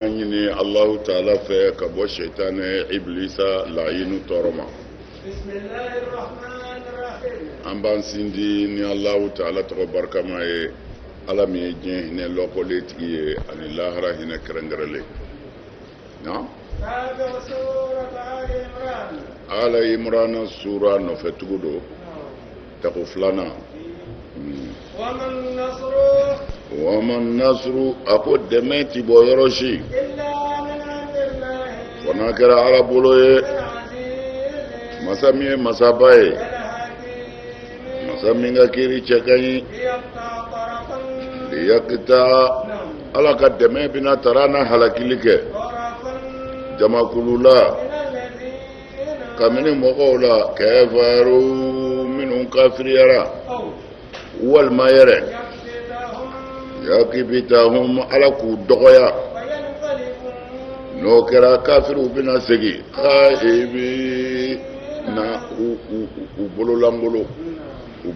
an ɲini alahu taala fɛ ka bɔ sɛtanɛ ibilisa lahinu tɔɔrɔ ma an b'an sindi ni alahu taala tɔgɔ barikama ye ala min ye diɲɛ hinɛ lɔkɔlen tigi ye ani lahara hinɛ kɛrɛnkɛrɛnlen na ala imurana sura nɔfɛtugu don tako filanan wama nasuru a ko dɛmɛ ti bɔ yɔrɔ si fo n'a kɛra ala bolo ye masa min ye masaba ye masa min ka kiri cɛ ka ɲi liyakita ala ka dɛmɛ bɛ na tara na halakili kɛ jamakulu la kabini mɔgɔw la kafaru minnu kafiriyara walima yɛrɛ yakibitahum ala k'u dɔgɔya n'o kɛra kafiriw bɛna segin khaibina u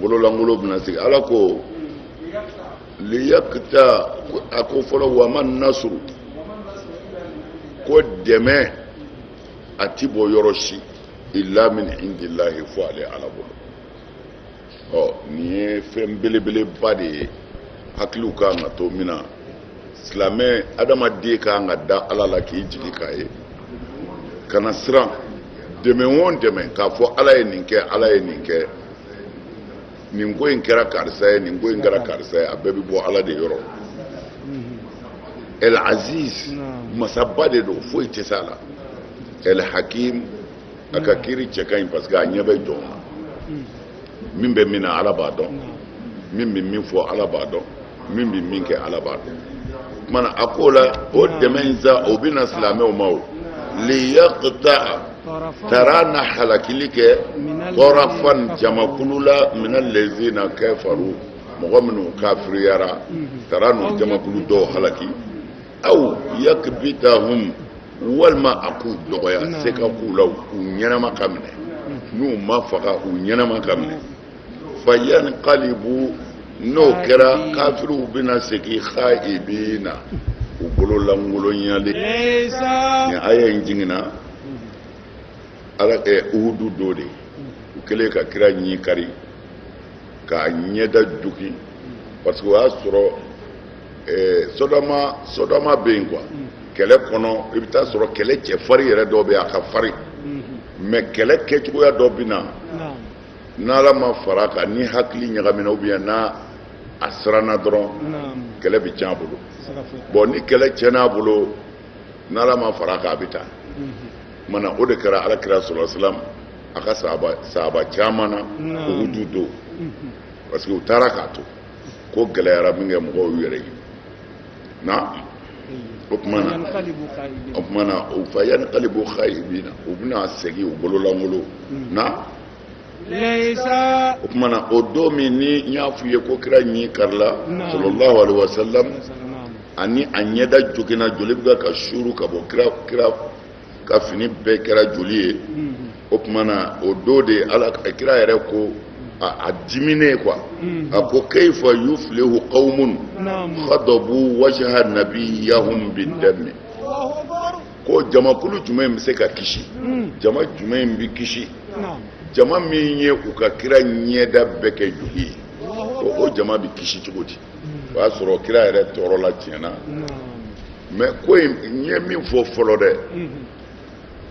bololangolo bɛna segin ala ko liyakita a ko fɔlɔ wa ma nasuru ko dɛmɛ a ti bɔ yɔrɔ si illa min indillahi fo ale ala bolo ɔ nin ye fɛn belebeleba de ye hakiliw ka kan ka to min na silamɛ adamaden ka kan ka da ala la k'i jigi k'a ye kana siran dɛmɛ o dɛmɛ k'a fɔ ala ye nin kɛ ala ye nin kɛ nin ko in kɛra karisa ye nin ko in kɛra karisa ye a bɛɛ bɛ bɔ ala de yɔrɔ el aziz masaba de don foyi tɛ s'a la el hakim a ka kiri cɛ ka ɲi parce que a ɲɛ bɛ jɔn na min bɛ min na ala b'a dɔn min bɛ min fɔ ala b'a dɔn min bɛ min kɛ ala b'a dɔn tuma na a ko la o dɛmɛ in sa o bɛ na silamɛw ma o liyaqta'a tara na halakili kɛ tarafan jamakulu la mina lezina kafaru mɔgɔ minnu kafiriyara tara n'u jamakulu dɔw halaki aw yakbitahum walima a k'u dɔgɔya se ka k'u la u ɲɛnama ka minɛ n'u ma faga u ɲɛnama ka minɛ fayankalibu n'o kɛra kafiriw bɛna segin khaibina u bolo lankolonyalen nin aya in jiginna ala eh, uhudu don de u kɛlen ka kira ɲin kari k'a ɲɛda jogin parce que o y'a sɔrɔ eh, sodama sodama bɛ yen quoi kɛlɛ kɔnɔ i bɛ taa sɔrɔ kɛlɛ cɛfarin yɛrɛ dɔ bɛ yen a ka farin mais kɛlɛ kɛcogoya dɔ bɛ na n'ala ma fara a kan ni hakili ɲagamina ou bien n'a a siranna dɔrɔn kɛlɛ bɛ tiɲɛ a bolo bɔn ni kɛlɛ tiɲɛna a bolo n'ala ma fara a kan a bɛ taa mana o de kɛra ala kira sallallahu alaihi wa sallam a ka sahaba caman na uhudu don parce que u taara k'a to ko gɛlɛyara min kɛ mɔgɔw y'u yɛrɛ ɲini na o tuma na o tuma na o fa yanqalibu khaibina u bɛna segin u bololankolon hmm. na o tuma na o don min ni n y'a f'u ye ko kira ɲin karila sallallahu alaihi wa sallam ani a ɲɛda joginna joli bɛ ka suuru ka bɔ kira kira ka fini bɛɛ kɛra joli ye o tuma na o don de ala kira yɛrɛ ko a dimine quoi a ko kayfa yuflihu qawmun khadabu wajha nabiyahum bidami ko jamakulu jumɛn in bɛ se ka kisi jama jumɛn in bɛ kisi jama min ye u ka kira ɲɛda bɛɛ kɛ joli ye ko o jama bɛ kisi cogo di o y'a sɔrɔ kira yɛrɛ tɔɔrɔla tiɲɛ na mais ko in n ye min fɔ fɔlɔ dɛ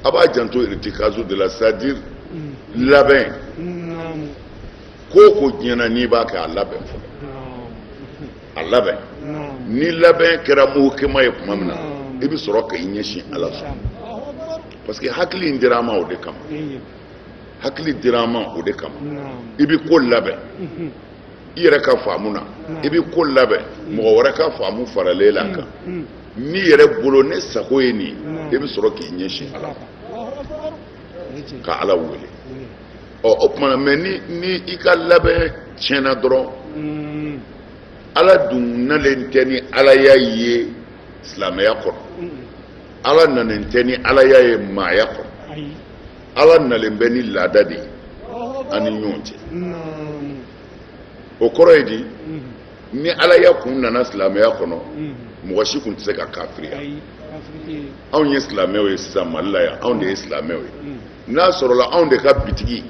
a b'a janto irtikazu de la c'est à dire labɛn ko o ko diɲɛ na n'i b'a kɛ a labɛn fɔlɔ a labɛn ni labɛn kɛra muhukema ye tuma min na i bɛ sɔrɔ ka i ɲɛsin ala sɔn parce que hakili in dira an ma o de kama hakili dira an ma o de kama i bɛ ko labɛn i yɛrɛ ka faamu na i bɛ ko labɛn mɔgɔ wɛrɛ ka faamu faralen la kan n'i yɛrɛ bolo ne sago ye nin i bɛ sɔrɔ k'i ɲɛsin ala ma ka ala wele ɔ o tuma na mais ni ni i ka labɛn tiɲɛna dɔrɔn ala dun nalen tɛ ni alaya ye silamɛya kɔnɔ ala nanen tɛ ni alaya ye maaya kɔnɔ ala nalen bɛ ni laada de ye an ni ɲɔgɔn cɛ o kɔrɔ ye di ni alaya kun nana silamɛya kɔnɔ mɔgɔ si tun tɛ se ka kafiriya anw ye silamɛw ye sisan mali la yan anw de ye silamɛw ye n'a sɔrɔla anw de ka bitigi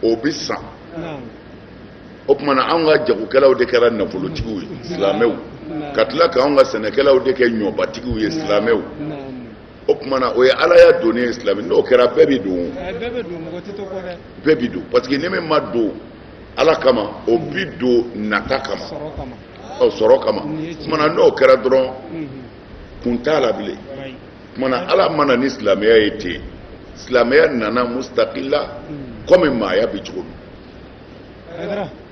o bɛ san o tuma na anw ka jagokɛlaw de kɛra nafolotigiw ye silamɛw ka tila ka anw ka sɛnɛkɛlaw de kɛ ɲɔbatigiw ye silamɛw o tumana o ye alaya donnen ye silamɛ n'o kɛra bɛɛ bɛ don bɛɛ bɛ don mɔgɔ tɛ to kɔ dɛ bɛɛ bɛ don parce que ni min ma don ala kama o bi don nata kama sɔrɔ kama ɔ sɔrɔ kama o tumana n'o kɛra dɔrɔn kun t'a la bilen o tumana ala ma na ni silamɛya ye ten silamɛya nana mustakila kɔmi maaya bɛ cogo min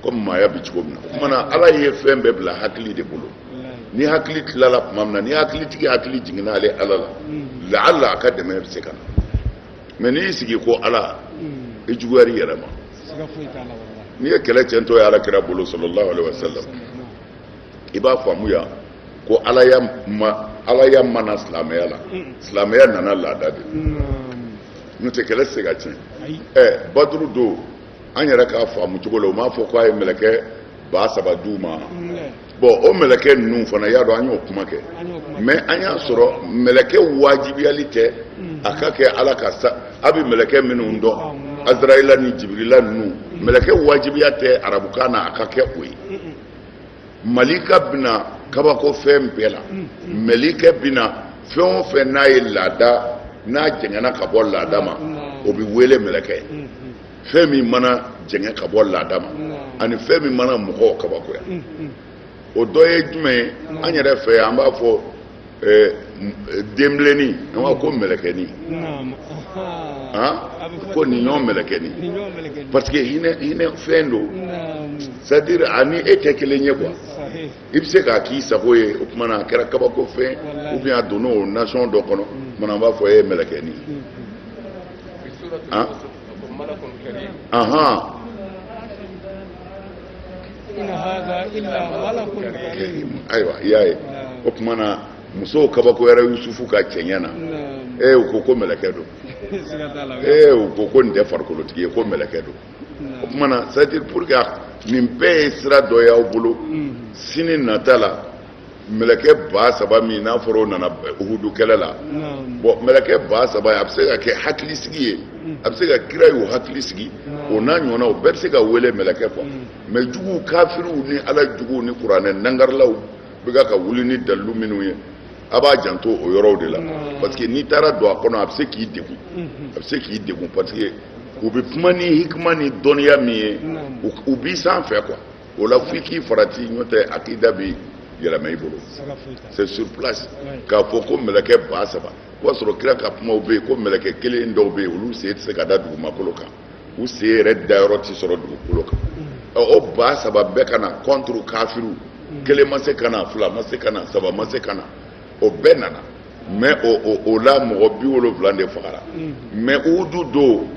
ko maaya bɛ cogo min na o tuma na ala ye fɛn bɛɛ bila hakili de bolo ni hakili tilala tuma min na ni hakili tigi hakili jiginna ale ala la laala a ka dɛmɛ bɛ se ka na mais n'i y'i sigi ko ala i juguyara i yɛrɛ ma n'i ye kɛlɛ cɛntɔ ye ala kira bolo sallallahu alaihi wa sallam i b'a faamuya ko ala ya ma ala ya ma na silamɛya la silamɛya nana laada de n'o tɛ kɛlɛ tɛ se ka tiɲɛ ɛ baduru don an yɛrɛ k'a faamu cogo la u m'a fɔ k'a ye mɛlɛkɛ ba saba di u ma bon o mɛlɛkɛ ninnu fana y'a dɔn an y'o kuma kɛ mais an y'a sɔrɔ mɛlɛkɛ wajibiyali tɛ a ka kɛ ala ka sa a bɛ mɛlɛkɛ minnu dɔn azrayila ni jibirila ninnu mɛlɛkɛ wajibiya tɛ arabukan na a ka kɛ o ye malika bɛ na kabako fɛn bɛɛ la malikɛ bɛ na fɛn o fɛn n'a ye laada n'a jɛngɛnna ka bɔ laada ma o bɛ wele mɛlɛkɛ fɛn min mana jɛngɛ ka bɔ laada ma ani fɛn min mana mɔgɔw kabakoya o dɔ ye jumɛn ye an yɛrɛ fɛ an b'a fɔ denbilenni an b'a ko mɛlɛkɛni ko nin ɲɔgɔn mɛlɛkɛni parce que hinɛ fɛn don c'est à dire a ni e tɛ kelen ye quoi i bɛ se k'a k'i sago ye o tuma na a kɛra kabako fɛn ou bien a donna o nation dɔ kɔnɔ o tuma na an b'a fɔ e ye mɛlɛkɛni ye. Uh-huh. in haza illa malakun karim ayiwa i y'a ye o tuma na musow kabakoyara yusufu ka cɛɲɛ na ee u ko ko mɛlɛkɛ don ee u ko ko nin tɛ farikolotigi ye ko mɛlɛkɛ don o tuma na c'est à dire pour que nin bɛɛ ye sira dɔ y'aw bolo sini nata la mɛlɛkɛ ba saba min n'a fɔra o nana uhudu kɛlɛ la bon mɛlɛkɛ ba saba a bɛ se ka kɛ hakili sigi ye mm. a bɛ se ka kira y'o hakili sigi o n'a ɲɔgɔnna o bɛɛ bɛ se ka wele mɛlɛkɛ quoi mais mm. juguw kafiriw ni ala juguw ni kuranɛ nangarilaw bɛ ka ka wuli ni dalilu minnu ye a b'a janto o yɔrɔw de la parce que n'i taara don a kɔnɔ a bɛ se k'i degun mm-hmm. a bɛ se k'i degun parce que u bɛ kuma ni hikima ni dɔnniya min ye u b'i sanfɛ quoi o la f'i k'i farati n'o tɛ akida bi yɛlɛma i bolo c'est sur place k'a fɔ ko mɛlɛkɛ ba saba o y'a sɔrɔ kira ka kumaw bɛ yen ko mɛlɛkɛ kelen dɔw bɛ yen olu sen tɛ se ka da dugumakolo kan u sen yɛrɛ dayɔrɔ tɛ sɔrɔ dugukolo kan o ba saba bɛɛ ka na contre kafiriw kelen ma se ka na fila ma se ka na saba ma se ka na o bɛɛ nana mais o la mɔgɔ bi wolonwula de fagara mais uhudu don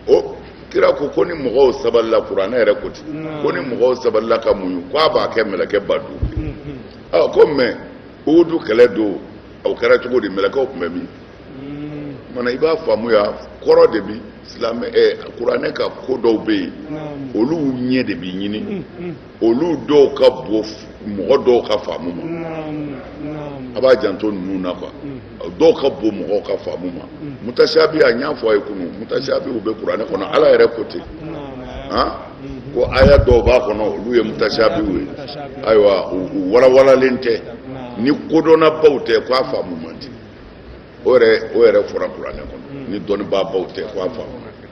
o kira ko ko ni mɔgɔw sabalila kuranɛ yɛrɛ ko ten ko ni mɔgɔw sabalila ka muɲu ko a b'a kɛ mɛlɛkɛ ba duuru ɔ ko mais uhudu kɛlɛ don o kɛra cogo di mɛlɛkɛw tun bɛ min o tuma na i b'a faamuya kɔrɔ de bi silamɛ kuranɛ ka ko dɔw bɛ yen olu ɲɛ de bɛ ɲini olu dɔw ka bon mɔgɔ dɔw ka faamu ma a b'a janto ninnu na quoi dɔw ka bon mɔgɔw ka faamu ma mutasiyabi a n y'a fɔ a ye kunun mutasiyabi u bɛ kuranɛ kɔnɔ ala yɛrɛ ko ten ko aya dɔw b'a kɔnɔ olu ye mutasiyabiw ye ayiwa u walawalalen tɛ ni kodɔnnabaw tɛ ko a faamu man di o yɛrɛ fɔra kuranɛ kɔnɔ ni dɔnnibaabaw tɛ ko a faamu man di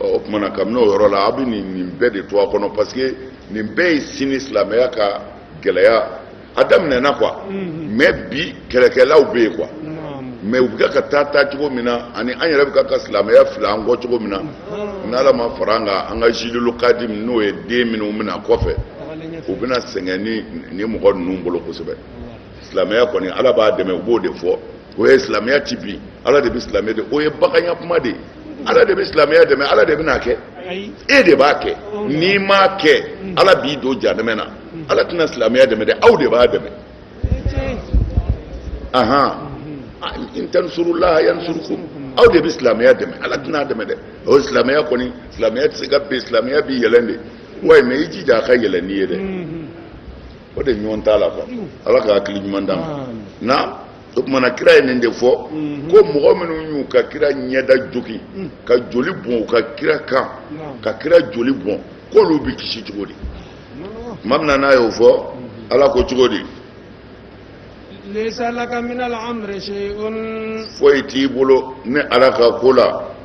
o tuma na kabini o yɔrɔ la aw bɛ nin nin bɛɛ de to a kɔnɔ parce que nin bɛɛ ye sini silamɛya ka gɛlɛya a daminɛna quoi mais bi kɛlɛkɛlaw bɛ yen quoi mais u bɛ ka taa taa cogo min na ani an yɛrɛ bɛ ka ka silamɛya fili an kɔ cogo min na n'ala ma fara an kan an ka jilul kadim n'o ye den minnu bɛ na kɔfɛ u bɛna sɛgɛn nin mɔgɔ ninnu bolo kosɛbɛ silamɛya kɔni ala b'a dɛmɛ u b'o de fɔ o ye silamɛya tɛ bin ala de bɛ silamɛya de o ye baganya kuma de ye ala de bɛ silamɛya dɛmɛ ala de bɛn'a kɛ e de b'a kɛ n'i m'a kɛ ala b'i don jahanama na ala tɛna silamɛya dɛmɛ dɛ aw de b'a dɛmɛ ahan in tansurullaha yansurukum aw de bɛ silamɛya dɛmɛ ala tɛn'a dɛmɛ dɛ o silamɛya kɔni silamɛya tɛ se ka bin silamɛya bɛ yɛlɛn de wayi mais i jija a ka yɛlɛn n'i ye dɛ o de ɲɔgɔn t'a la quoi ala ka hakili ɲuman d'an ma na o tuma na kira ye nin de fɔ ko mɔgɔ minnu y'u ka kira ɲɛda jogin ka joli bɔn u ka kira kan ka kira joli bɔn k'olu bɛ kisi cogo di tuma min na n'a y'o fɔ ala ko cogo di foyi t'i bolo ne ala ka ko la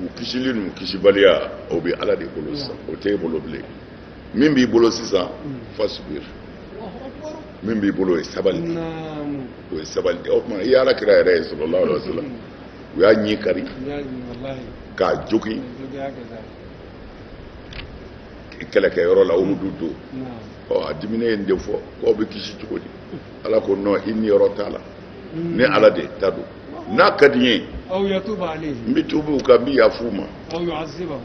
u kisili n'u kisibaliya o bɛ ala de bolo sisan o tɛ e bolo bilen min b'i bolo sisan fasbir min b'i bolo o ye sabali de o ye sabali de o tuma i ye ala kira yɛrɛ ye sallallahu alaihi wa sallam u y'a ɲi kari k'a jogin kɛlɛkɛyɔrɔ la uhudu don o a diminen ye nin de fɔ k'aw bɛ kisi cogo di ala ko non i niyɔrɔ t'a la ne ala de ta don n'a ka di n ye n bɛ tuubi u kan n bɛ yafa u ma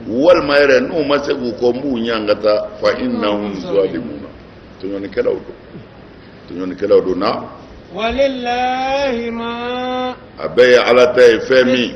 walima yɛrɛ n'u ma segin u kɔ n b'u ɲangata fa innahum zalimuna tɔɲɔnikɛlaw don tɔɲɔnikɛlaw don na walillahi ma a bɛɛ ye ala ta ye fɛn min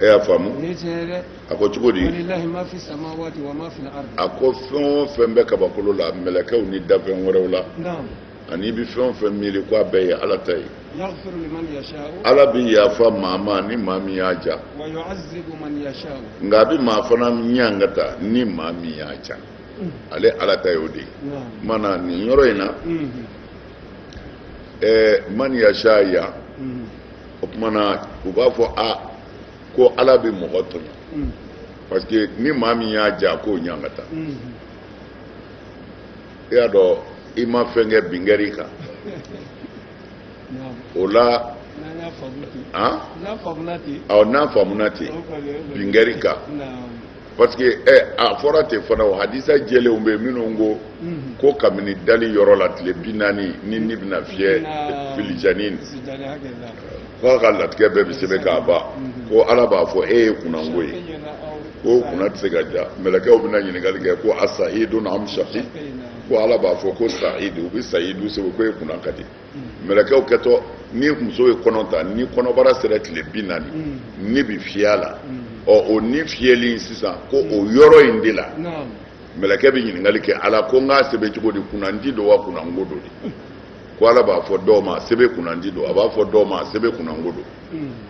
e y'a faamu a ko cogo di a ko fɛn o fɛn bɛ kabakolo la mɛlɛkɛw ni dafɛn wɛrɛw la ani i bɛ fɛn o fɛn miiri ko a bɛɛ ye ala ta ye ala bɛ yafa maa ma ni maa min y'a ja nka a bɛ maa fana ɲangata ni maa min y'a ja mm. ale ala ta ye o de ye mana nin yɔrɔ in na mm-hmm. eh, man yasha yan mm-hmm. o kuma na u b'a fɔ a ko ala bɛ mɔgɔ tɔɲɔ mm. parce que ni maa min y'a ja k'o ɲangata mm-hmm. i y'a dɔn i ma fɛn kɛ binkɛri kan o la awɔ n'a faamuna ten binkɛri kan parce que ɛ eh, a fɔra ten fana o hadisa jɛlenw bɛ minnu ko mhm. ko kabini dali yɔrɔ la tile bi naani ni ni bɛna fiyɛ filijani k'a ka latigɛ bɛɛ bɛ sɛbɛn k'a ban mhm. ko ala b'a fɔ e ye kunnango ye ko kunna tɛ se ka ja mɛlɛkɛw bɛna ɲininkali kɛ ko a sahidun am shaqi ko ala b'a fɔ ko sahidu u bɛ sahidu sɛbɛn ko e kunna ka di mɛlɛkɛw kɛtɔ ni muso ye kɔnɔ ta ni kɔnɔbara sera tile bi naani mm. ni bɛ fiyɛ a la mm. ɔ o ni fiyɛli in sisan ko o mm. yɔrɔ in de la mɛlɛkɛ bɛ ɲininkali kɛ ala ko n k'a sɛbɛn cogo di kunnandi don wa kunnango don de ko ala b'a fɔ dɔw ma sɛbɛn kunnandi don a b'a fɔ dɔw ma a sɛbɛn kunnango don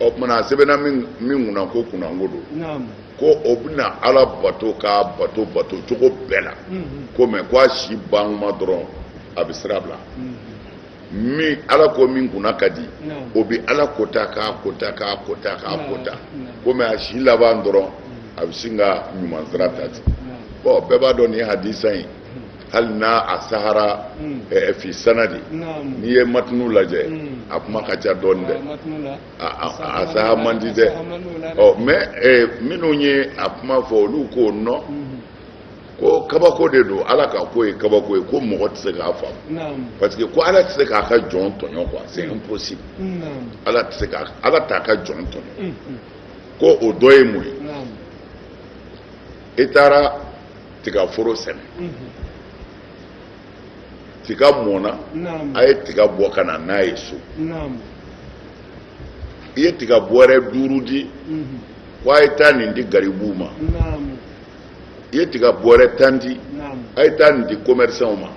o kuma na a sɛbɛnna min kunna ko kunnango don ko o bɛna ala bato k'a bato bato cogo bɛɛ la ko mais ko a si bankuma dɔrɔn a bɛ sira bila min ala ko min kunna ka di o bɛ ala kota k'a kota k'a kota k'a kota ko mais a si laban dɔrɔn a bɛ sin ka ɲuman sira ta ten bon bɛɛ b'a dɔn nin hadisa in hali n'a a sahara hmm. eh, fi sanadi n'i ye matinu lajɛ hmm. a kuma ka ca dɔɔni dɛ a saha man di dɛ ɔ mais eh, minnu ye a kuma fɔ olu ko non hmm. ko kabako de don ala ka ko ye kabako ye ko mɔgɔ tɛ se k'a faamu parce que ko ala tɛ se k'a ka jɔn tɔɲɔ quoi c'est impossible ala tɛ se k'a ala t'a ka jɔn tɔɲɔ ko o dɔ ye mun ye i taara tigaforo sɛnɛ tiga mɔna a ye tiga bɔ ka na n'a ye so i ye tiga bɔrɛ duuru di ko a ye taa nin di garibuw ma i ye tiga bɔrɛ tan di a ye taa nin di commerçants ma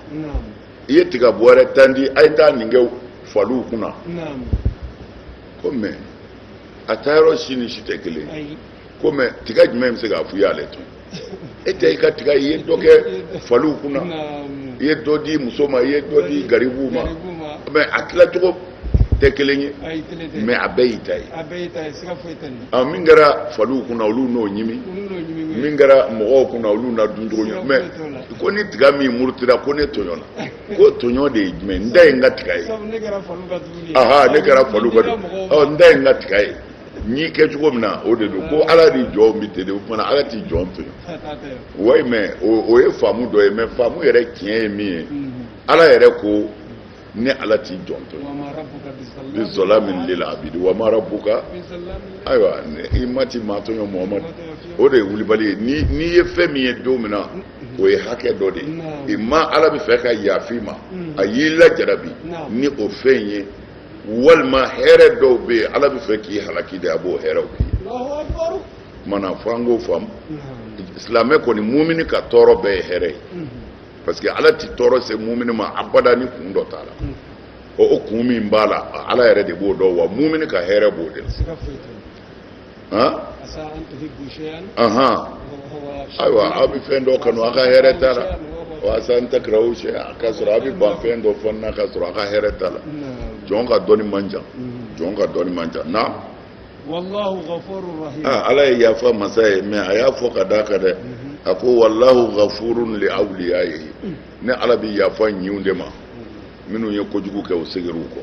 i ye tiga bɔrɛ tan di a ye taa nin kɛ faliw kunna ko mais a taayɔrɔ si ni si tɛ kelen ko mais tiga jumɛn bɛ se k'a f'i y'ale tɔɲɔ e tɛ i ka tiga ye i ye dɔ kɛ faliw kunna i ye dɔ di muso ma i ye dɔ di garibuw ma mais a tilacogo tɛ kelen ye mais a bɛɛ y'i ta ye ah, min kɛra faliw kunna olu n'o ɲimi min kɛra mɔgɔw kunna olu n'a duncogo ɲɛ mais ko ni tiga min murutira ko ne tɔɲɔna ko tɔɲɔ de ye jumɛn n da ye n ka tiga ye ne kɛra faliw ka dumuni ye n da ye n ka tiga ye n y'i kɛ cogo min na o de don ko ala ni jɔn bɛ ten de o kumana ala ti jɔn tɔɲɔ oui mais o ye faamu dɔ ye mais faamu yɛrɛ tiɲɛ ye min ye ala yɛrɛ ko ne ala ti jɔn tɔɲɔ bi zallamin lil abidi wa ma rabbuka ayiwa i ma ti maa tɔɲɔ muhamadu o de ye wulibali ye n'i ye fɛn min ye don min na o ye hakɛ dɔ de ye i ma ala b'a fɛ ka yafa i ma a y'i lajarabi ni o fɛn in ye walima hɛrɛ dɔw bɛ yen ala b'a fɛ k'i halaki de a b'o hɛrɛw k'i ye kumana fo an k'o faamu silamɛ kɔni mumini ka tɔɔrɔ bɛɛ ye hɛrɛ ye parce que ala tɛ tɔɔrɔ se mumini ma abada ni kun dɔ t'a la o kun min b'a la ala yɛrɛ de b'o dɔn wa mumini ka hɛrɛ b'o de la wa asa an tuhibbu shay'an aha ayiwa aw bi fɛn dɔ kanu a ka hɛrɛ t'a la wa asa an takrahu shay'an k'a sɔrɔ a bi ban fɛn dɔ fana na k'a sɔrɔ a ka hɛrɛ t'a la jɔn ka dɔnni man jan jɔn ka dɔnni man jan naamu wallahu ghafurur rahim ah ala ye yafa masa ye mais a y'a fɔ ka d'a kan dɛ a ko wallahu ghafurun li awliyayihi ne ala bi yafa ɲinw de ma minnu ye kojugu kɛ u segira u kɔ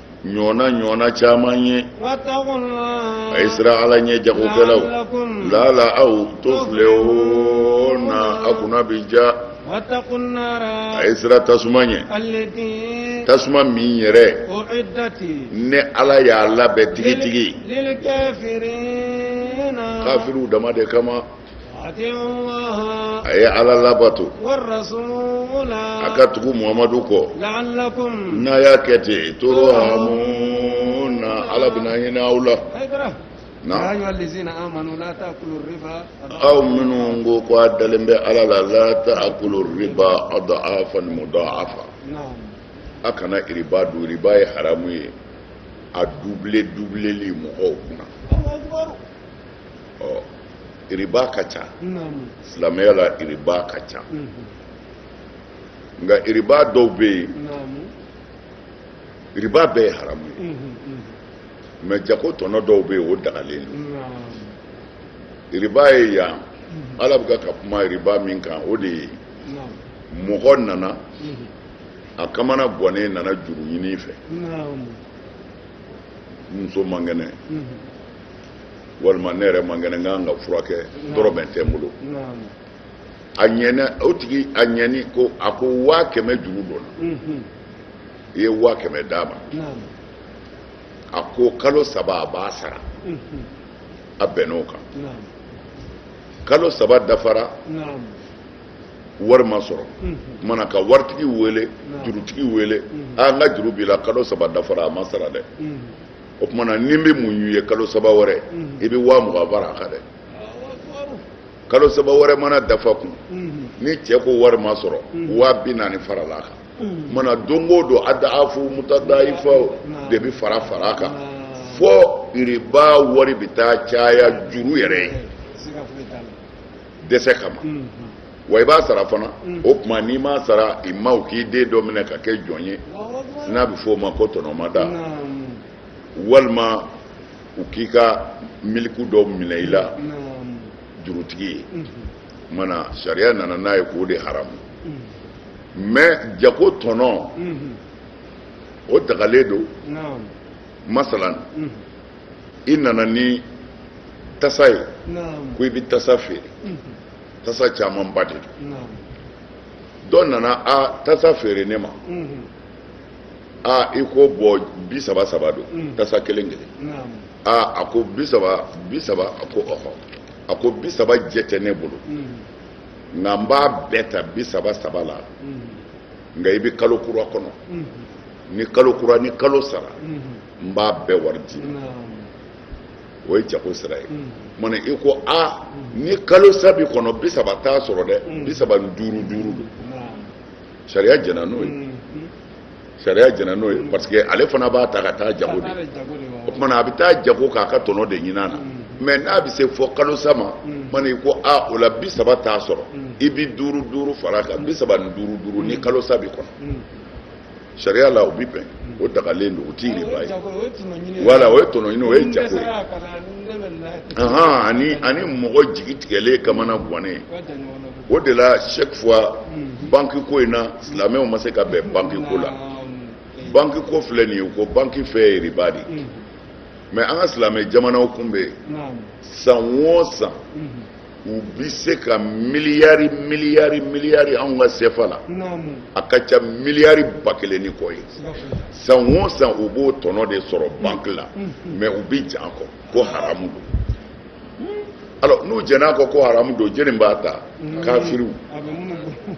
ɲɔɔna ɲɔɔna caman ye a ye sira ala ɲɛ jagokɛlaw laala aw tuflihuna a kunna bi diya a ye sira tasuma ɲɛ tasuma min yɛrɛ ne ala y'a labɛn tigitigi kafiriw dama de kama a ye ala labato a ka tugu muhamadu kɔ n'a y'a kɛ ten turhamuna ala bɛna hinɛ aw la aw minnu ko ko a dalen bɛ ala la la ta'kulu riba ad'afan muda'afa a kana riba dun riba ye haramu ye a dubile dubileli mɔgɔw kunna ɔ iriba ka ca silamɛya la iriba ka ca nka iriba dɔw bɛ yen iriba bɛɛ ye haramu ye mais jago tɔnɔ dɔw bɛ yen o dagalen don iriba ye yan ala bɛ ka kuma iriba min kan o de ye mɔgɔ nana a kamanagwannen nana juru ɲini i fɛ muso man kɛnɛ walima ne yɛrɛ man kɛnɛ n kan ka furakɛ dɔrɔmɛ tɛ n bolo a ɲɛna o tigi a ɲɛni ko a ko waa kɛmɛ juru don n na i ye waa kɛmɛ d'a ma a ko kalo saba a b'a sara a bɛnn'o kan kalo saba dafara wari ma sɔrɔ mana ka waritigi wele jurutigi wele a n ka juru b'i la kalo saba dafara a ma sara dɛ o tuma na ne bɛ muɲu i ye kalo saba wɛrɛ i bɛ waa mugan fara a kan dɛ kalo saba wɛrɛ mana dafa tugun ni cɛ ko wari ma sɔrɔ waa bi naani farala a kan mana don o don adaafu mutadayifa de bɛ fara fara a kan fo riba wari bɛ taa caya juru yɛrɛ ye dɛsɛ kama wa i b'a sara fana o tuma n'i m'a sara ima u k'i den dɔ minɛ ka kɛ jɔn ye n'a bɛ fɔ o ma ko tɔnɔmada walima u k'i ka miliku dɔ minɛ i la jurutigi ye mana sariya nana n'a ye k'o de haramu mais jago tɔnɔ o dagalen don masalan i nana ni tasa ye ko i bɛ tasa feere tasa camanba de don dɔ nana a tasa feere ne ma a i ko bon bi saba saba don tasa kelen kelen a a ko bi saba bi saba a ko ɔhɔ a ko bi saba jɛ tɛ ne bolo nka n b'a bɛɛ ta bi saba saba la nka i bɛ kalo kura kɔnɔ ni kalo kura ni kalo sara n b'a bɛɛ wari d'i ma o ye jago sira ye tumana i ko a ni kalo sa bi kɔnɔ bi saba t'a sɔrɔ dɛ bi saba ni duuru duuru don sariya jɛna n'o ye sariya jɛna n'o ye parce que ale fana b'a ta ka taa jago de o tumana a bɛ taa jago k'a ka tɔnɔ de ɲin'a na mais n'a bɛ se fo kalo sa ma tumana i ko a o la bi saba t'a sɔrɔ i bi duuru duuru far'a kan bi saba ni duuru duuru ni kalo sa bi kɔnɔ sariya la o bi bɛn o dagalen don o tɛ riba ye voilà o ye tɔnɔ ɲini o ye jago ye ahan ani ani mɔgɔ jigi tigɛlen kamanagannen o de la chaque fois mhm. banki ko in na silamɛw ma se ka bɛn banki ko la banki ko filɛ nin ye u ko banki fɛ ye riba de mhm. mais an ka silamɛ jamanaw kun bɛ yen san o san mhm. u bi se ka miliyari miliyari miliyari anw ka sefa la a ka ca miliyari ba kelen ni kɔ ye san o san u b'o tɔnɔ de sɔrɔ banki la mais u bɛ jɛn a kɔ ko haramu don alors n'u jɛnn'a kɔ ko haramu don jɛni b'a ta kafiriw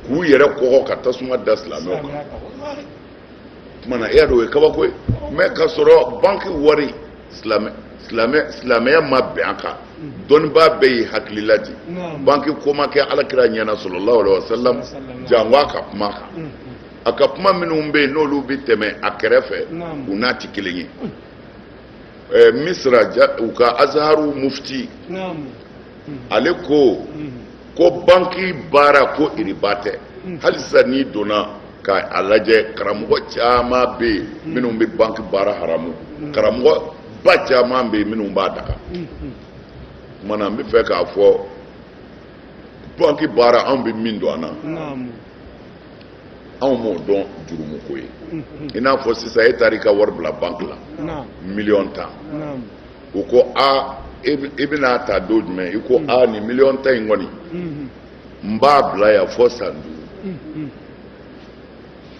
k'u yɛrɛ kɔgɔ ka tasuma da silamɛw kan tumana e y'a dɔn o ye kabako ye mais ka sɔrɔ banki wari silamɛya ma bɛn a kan dɔnnibaa bɛɛ y'i hakilila di banki ko ma kɛ ala kira ɲɛna sallallahu alaihi wasallam jango a ka kuma kan mm, mm. a ka kuma minnu bɛ yen n'olu bɛ tɛmɛ a kɛrɛfɛ u n'a tɛ kelen ye eh, misra u ka azharu mufti ale ko hmm. ko banki baara ko iriba tɛ hmm. hali sisan n'i donna k'a lajɛ karamɔgɔ caman bɛ yen hmm. minnu bɛ banki baara haramu karamɔgɔ ba caman bɛ yen minnu b'a daga tumana n bɛ fɛ k'a fɔ banki baara anw bɛ min dɔn an na anw m'o dɔn jurumu ko ye i n'a fɔ sisan e taara i ka wari bila banki la miliyɔn tan u ko a e bɛn'a ta don jumɛn i ko a nin miliyɔn tan in kɔni n b'a bila yan fɔ san duuru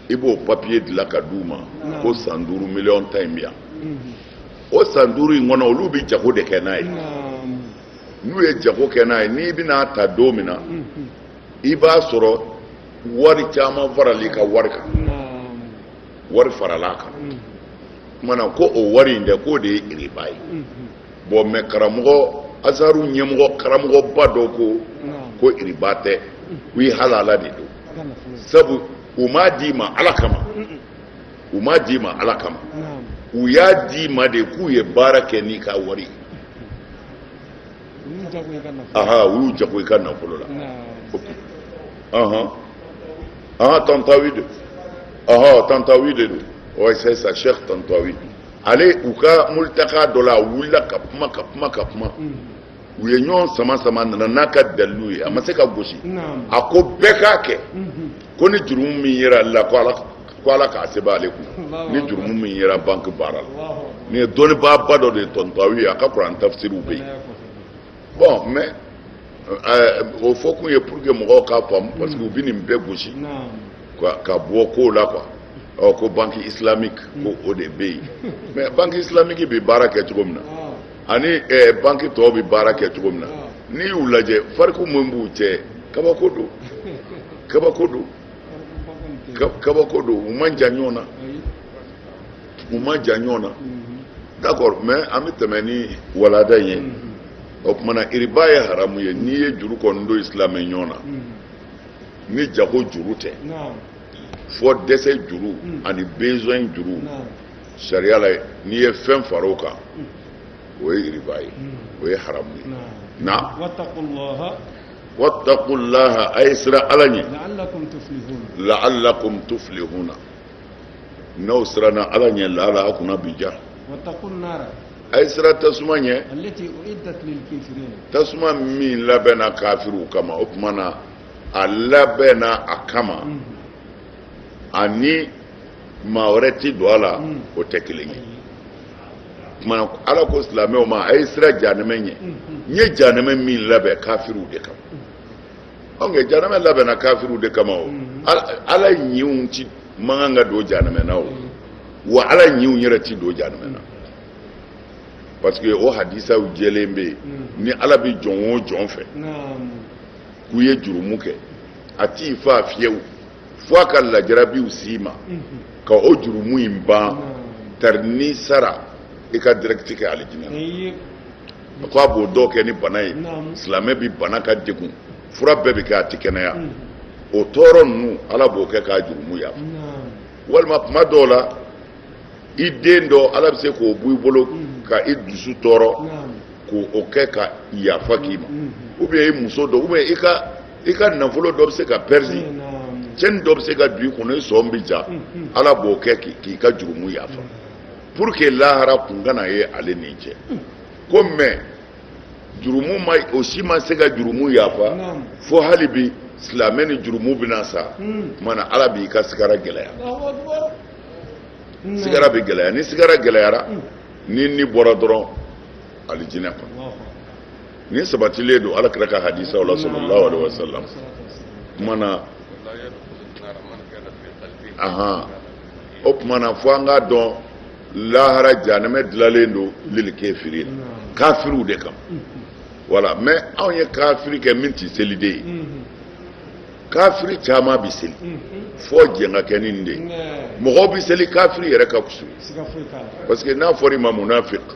i b'o papiye dilan ka d'u ma ko san duuru miliyɔn tan in bɛ yan o san duuru in kɔnɔ olu bɛ jago de kɛ n'a ye n'u ye jago kɛ n'a ye n'i bɛn'a ta don min na i b'a sɔrɔ wari caman faral'i ka wari kan wari faral'a kan tumana ko o wari in dɛ k'o de ye iriba ye bon mais karamɔgɔ azaru ɲɛmɔgɔ karamɔgɔba dɔ ko ko iriba tɛ ko i halala de don sabu u m'a d'i ma ala kama u m'a d'i ma ala kama u y'a d'i ma de k'u ye baara kɛ n'i ka wari ye u y'u jago i ka nafolo la u y'u jago i ka nafolo la tantawi de don tantawi de don ouais c'est ça Cheikh Tantawi ale u ka multaka dɔ la a wulila ka kuma ka kuma ka kuma u ye ɲɔgɔn sama sama nana n'a ka dalilu ye a ma se ka gosi a ko bɛɛ k'a kɛ ko ni jurumu min yera a la ko ala k'a sɛbɛn ale kun ni jurumu min yera banki baara la nin ye dɔnnibaaba dɔ de ye Tantawi a ka kuran tafsiriw bɛ yen bon mais eh, o fɔ kun ye pour que mɔgɔw k'a faamu parce que u bɛ nin bɛɛ gosi ka bɔ kow la quoi ɔ ko banki islamique ko o de bɛ yen mais banki islamique bɛ baara kɛ cogo min na. ani eh, banki tɔw bɛ baara kɛ cogo min na n'i y'u lajɛ fariku min b'u cɛ kabako don kabako don kabako don u man jan ɲɔgɔn na u man jan ɲɔgɔn na d'accord mais an bɛ tɛmɛ ni walanda in ye o tumana iriba ye haramu ye n'i ye juru kɔni don i silamɛ ɲɔgɔn na ni jago juru tɛ fɔ dɛsɛ juru ani besoin juru sariya la n'i ye fɛn fara o kan o ye riba ye o ye haramu ye na wattaqu llaha a ye siran ala ɲɛ la'allakum tuflihuna n'aw siranna ala ɲɛ laala a kunna bi ja a ye siran tasuma ɲɛ tasuma min labɛnna kafiriw kama o tuma na a labɛnna a kama ani maa wɛrɛ tɛ don a la hmm. o tɛ kelen ye tuma ala ko silamɛw ma a ye siran janɛmɛ ɲɛ hmm, hmm. n ye janɛmɛ min labɛn kafiriw de kama donc janɛmɛ labɛnna kafiriw de kama o ala ɲinw ti man kan ka don janɛmɛ na o wa ala ɲinw yɛrɛ ti don janɛmɛ na parce que o hadisaw jɛlen bɛ yen ni ala bɛ jɔn o jɔn fɛ k'u ye jurumu kɛ a t'i faa fiyewu fo a ka lajarabiw s'i ma ka o jurumu in ban tari n'i sara i ka dirɛkiti kɛ alijinɛ na ko a b'o dɔw kɛ ni bana ye silamɛ bi bana ka degun fura bɛɛ bi kɛ a ti kɛnɛya o tɔɔrɔ ninnu ala b'o kɛ k'a jurumu yafa walima kuma dɔw la i den dɔ ala bɛ se k'o bɔ i bolo ka i dusu tɔɔrɔ k'o kɛ ka yafa k'i ma ou bien i muso dɔ ou bien i ka i ka nafolo dɔ bɛ se ka pɛridi cɛnni dɔ bɛ se ka don i kɔnɔ i sɔn bɛ ja ala b'o kɛ k'i ka jurumu yafa pour que lahara kun kana ye ale n'i cɛ ko mais jurumu ma o si ma se ka jurumu yafa fo halibi silamɛ ni jurumu bɛna sa o kuma na ala b'i ka sigara gɛlɛya sigara bɛ gɛlɛya ni sigara gɛlɛyara ni ni bɔra dɔrɔn alijinɛ kɔnɔ nin sabatilen don ala kira ka hadisaw la sallallahu alaihi wasallam kuma na ahan o kuma na fo an k'a dɔn lahara jahanamɛ dilalen don lil kafirina kafiriw de kama voilà mais anw ye kafiri kɛ min tɛ seli de ye kafiri caman bɛ seli fo jɛn ka kɛ ni nin de ye mɔgɔw bɛ seli kafiri yɛrɛ ka fusa parce que n'a fɔra i ma munafiki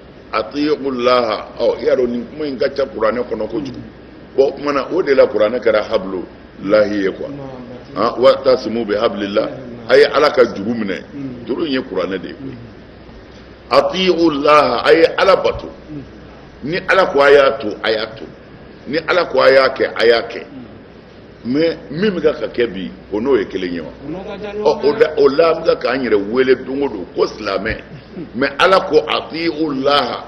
ati'u llaha ɔ i y'a dɔn nin kuma in ka ca kuranɛ kɔnɔ kojugu bon kuma na o de la kuranɛ kɛra hablu llahi ye quoi ah, wa'tasimu bihablillah a ye ala ka juru minɛ juru in ye kuranɛ de ye koyi ati'u llaha a ye ala bato ni ala ko a y'a to a y'a to ni ala ko a y'a kɛ a y'a kɛ mais min bɛ ka kɛ bi o n'o ye kelen ye wa ɔ o la an bɛ k'an yɛrɛ wele don o don ko silamɛ mais ala ko ati'u llaha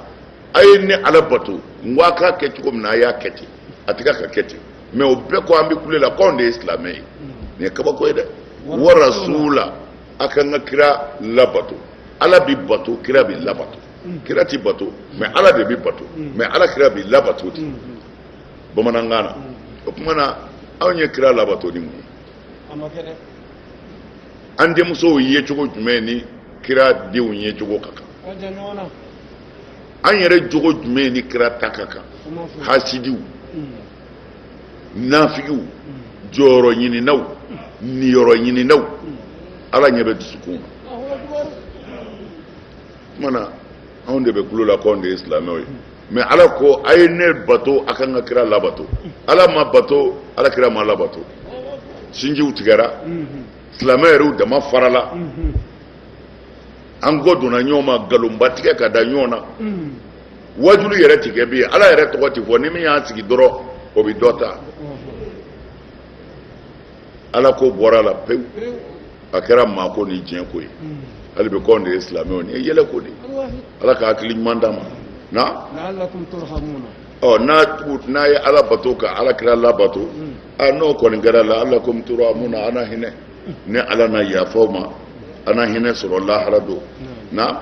a ye ne ala bato n ko a k'a kɛ cogo min na a y'a kɛ ten a tɛ ka ka kɛ ten mais o bɛɛ ko an bɛ kule la k'anw de ye silamɛ ye nin ye kabako ye dɛ wa rasuula a ka n ka kira labato ala bɛ bato kira bɛ labato kira tɛ bato mais ala de bɛ bato mais ala kira bɛ labato ten. bamanankan na o tuma na anw ye kira labato ni mun ye an denmusow ye cogo jumɛn ni kira denw ye cogo ka kan an yɛrɛ jogo jumɛn ni kira ta ka kan hasidiw nafigiw jɔyɔrɔ ɲininaw niyɔrɔ ɲininaw ala ɲɛ bɛ dusukun na o tuma na anw de bɛ kulo la k'anw de ye silamɛw ye mais ala ko a ye ne bato a ka n ka kira labato ala ma bato ala kira ma labato sinjiw tigɛra silamɛ yɛrɛw dama farala an kɔ donna ɲɔgɔn ma nkalonba tigɛ ka da ɲɔgɔn na wajulu yɛrɛ tɛ kɛ bi ala yɛrɛ tɔgɔ tɛ fɔ ni min y'a sigi dɔrɔn o bɛ dɔ ta ala ko bɔra a la pewu a kɛra maa ko ni diɲɛ ko ye hali bi k'anw de ye silamɛw nin ye yɛlɛ ko dɛ ala ka hakili ɲuman d'an ma la'allakum turhamuna n'a ye ala bato ka ala kira labato a n'o kɔni kɛra la'allakum turhamuna a na hinɛ ni ala na yafa aw ma a na hinɛ sɔrɔ lahara don na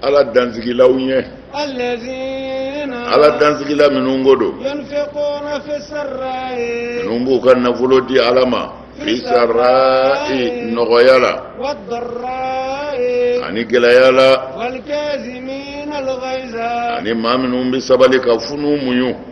ala dansigilaw ɲɛ ala dansigila minnu ko don minnu b'u ka nafolo di ala ma fi sarra'i nɔgɔya la ani gɛlɛya la ani maa minnu bɛ sabali ka funu muɲu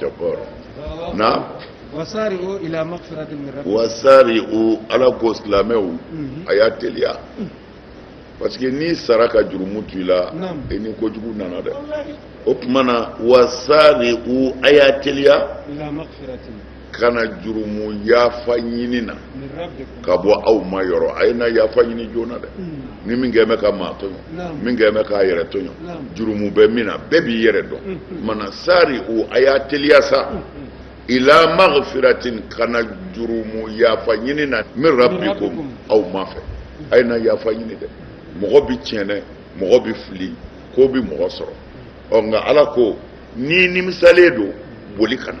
jabbar na wasari'u ila maghfiratin min rabbikum wasari'u ala ko silamɛw mhm. a y'a teliya parce que n'i sara ka jurumu to i la i ni kojugu nana dɛ o tuma na wasari'u a y'a teliya ka na jurumu yafa ɲini na ka bɔ aw ma yɔrɔ a ye na yafa ɲini joona dɛ hmm. ni min kɛ bɛ ka maa tɔɲɔ min kɛ bɛ k'a yɛrɛ tɔɲɔ jurumu bɛ min na bɛɛ b'i yɛrɛ dɔn hmm, hmm. mana sari'u a y'a teliya sa ila maghfiratin ka na jurumu yafa ɲini na min rabbikum aw ma fɛ a ye na yafa ɲini dɛ mɔgɔ bi tiɲɛ mɔgɔ bi fili ko bi mɔgɔ sɔrɔ ɔ nka ala ko n'i nimisalen don boli ka na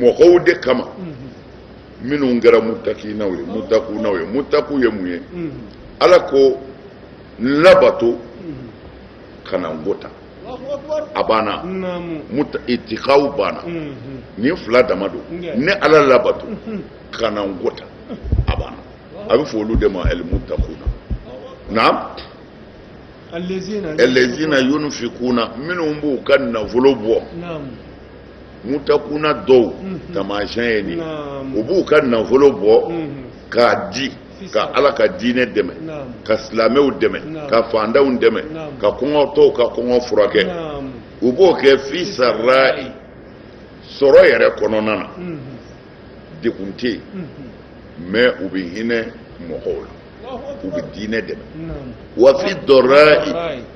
mɔgɔw de kama minnu kɛra mutakinaw ye mutakunaw ye mutaku ye mun ye ala ko n labato kana n ko ta a banna itikaw banna nin fila dama don ne ala labato kana n ko ta a banna a bɛ fɔ olu de ma alimutakuna na ɛlɛzina yunfikuna minnu b'u ka nafolo bɔ mutakuna dɔw mhm. taamasiyɛn ye nin u b'u ka nafolo bɔ mhm. k'a di ka ala ka diinɛ dɛmɛ ka silamɛw dɛmɛ ka fandanw dɛmɛ ka kɔngɔtɔw ka kɔngɔ furakɛ u b'o kɛ fi sarra'i sɔrɔ yɛrɛ kɔnɔna na mhm. degun tɛ yen mais u bɛ hinɛ mɔgɔw la u bɛ diinɛ dɛmɛ wa fi dɔrra'i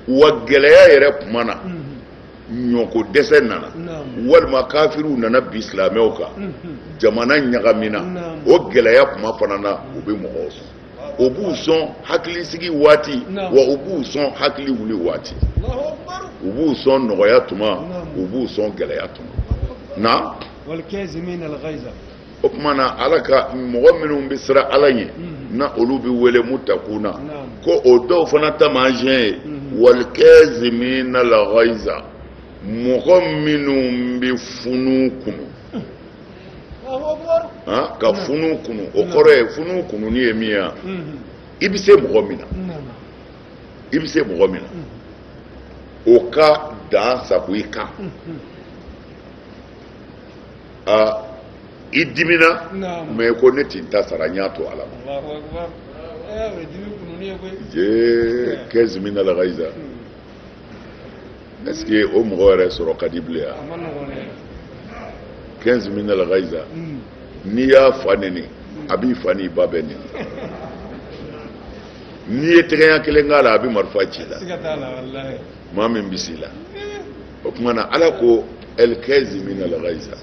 wa gɛlɛya yɛrɛ kuma na ɲɔko dɛsɛ nana walima kafiriw nana bin silamɛw kan mhm. jamana ɲagamina o gɛlɛya kuma fana na u bɛ mɔgɔw sɔn u b'u sɔn hakilisigi waati wa u b'u sɔn hakiliwuli waati u b'u sɔn nɔgɔya tuma u b'u sɔn gɛlɛya tuma na o tuma na ala ka mɔgɔ minnu bɛ siran ala ɲɛ mhm. na olu bɛ wele mutakuna ko o dɔw fana taamasiyɛn ye mhm. walikɛzimina lagayiza mɔgɔ minnu bɛ funu kunu ka funu kunu o kɔrɔ ye funu kununi ye min ye mhm. i bɛ se mɔgɔ min na i bɛ se mɔgɔ min na o ka dan sagon i kan. aa i dimina mais ko ne tɛ n ta sara n y'a to ala ma jee kɛzimina lagayiza est ce que o mɔgɔ yɛrɛ sɔrɔ ka di bilen ya kɛzimina lagayiza n'i y'a fa neni a b'i fa n'i ba bɛɛ neni n'i ye tɛgɛya kelen k'a la a bɛ marifa ci i la maa min bɛ s'i la o tuma na ala ko ɛlikɛzimina lagayiza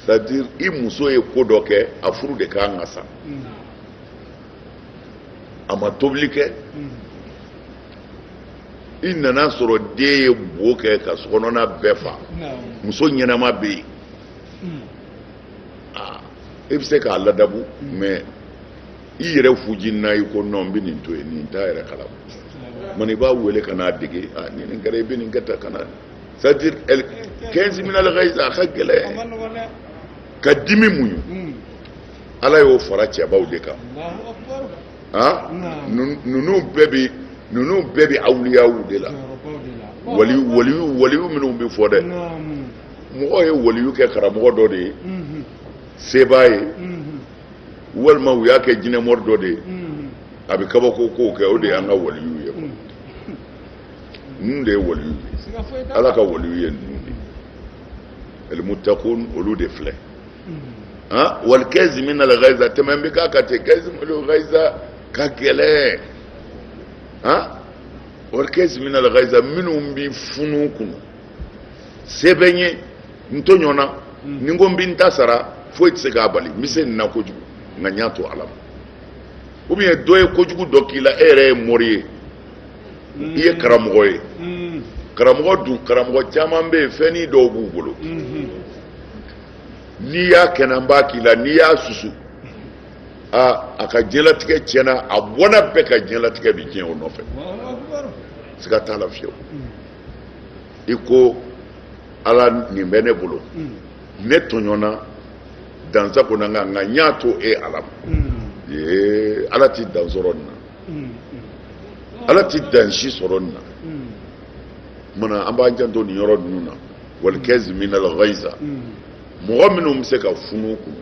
c'est à dire i muso ye ko dɔ kɛ a furu de ka kan ka sa a ma tobili kɛ i nana sɔrɔ den ye bo kɛ ka sokɔnɔna bɛɛ fa muso ɲɛnama bɛ yen i bɛ se k'a ladabu mais i yɛrɛ fuji na i ko non n bɛ nin to yen nin t'a yɛrɛ kalama i b'a wele ka n'a dege a ni nin kɛra i bɛ nin kɛ tan ka na c'est-à-dire al kazimin al-ghayza a ka gɛlɛn ka dimi muɲu hmm. ala y'o fara cɛbaw de kan ah ninnu bɛɛ bɛ ninnu bɛɛ bɛ awuliyaw de la waliyu waliyu waliyu minnu bɛ fɔ dɛ mɔgɔw ye waliyu kɛ karamɔgɔ dɔ de ye hmm. sebaa ye hmm. walima u y'a kɛ jinɛmɔri dɔ de ye mm. a bɛ kabako kow kɛ o de y'an ka waliyu ye mm. ninnu de ye waliyu ye ala ka waliyu ye ninnu de ye al-muttaqun olu de filɛ mm. wal kazimin al-ghayza tɛmɛn bɛ k'a kan ten kazimul ghayza ka gɛlɛn wal kazimin al-ghayza minnu bɛ funu kunu se bɛ n ye n tɔɲɔna hmm. ni n ko n bɛ n ta sara foyi tɛ se k'a bali n bɛ se nin na kojugu nka n y'a to ala ma ou bien dɔ ye kojugu dɔ k'i la e yɛrɛ ye mori ye hmm. i ye karamɔgɔ ye hmm. karamɔgɔ dun karamɔgɔ caman bɛ yen fɛnnin dɔw b'u bolo n'i y'a kɛnɛ n b'a k'i la n'i y'a susu aa a ka diɲɛlatigɛ tiɲɛna a bɔnna bɛɛ ka diɲɛlatigɛ bɛ tiɲɛ o nɔfɛ siga t'a la fiyewu. i ko ala nin bɛ ne bolo ne tɔɲɔna dan sagonna nka nka n y'a to e ala ma ee ala ti dan sɔrɔ nin na ala ti dan si sɔrɔ nin na mana an b'an janto nin yɔrɔ ninnu na wal kazimin al-ghayza mɔgɔ minnu bɛ se ka funu kunu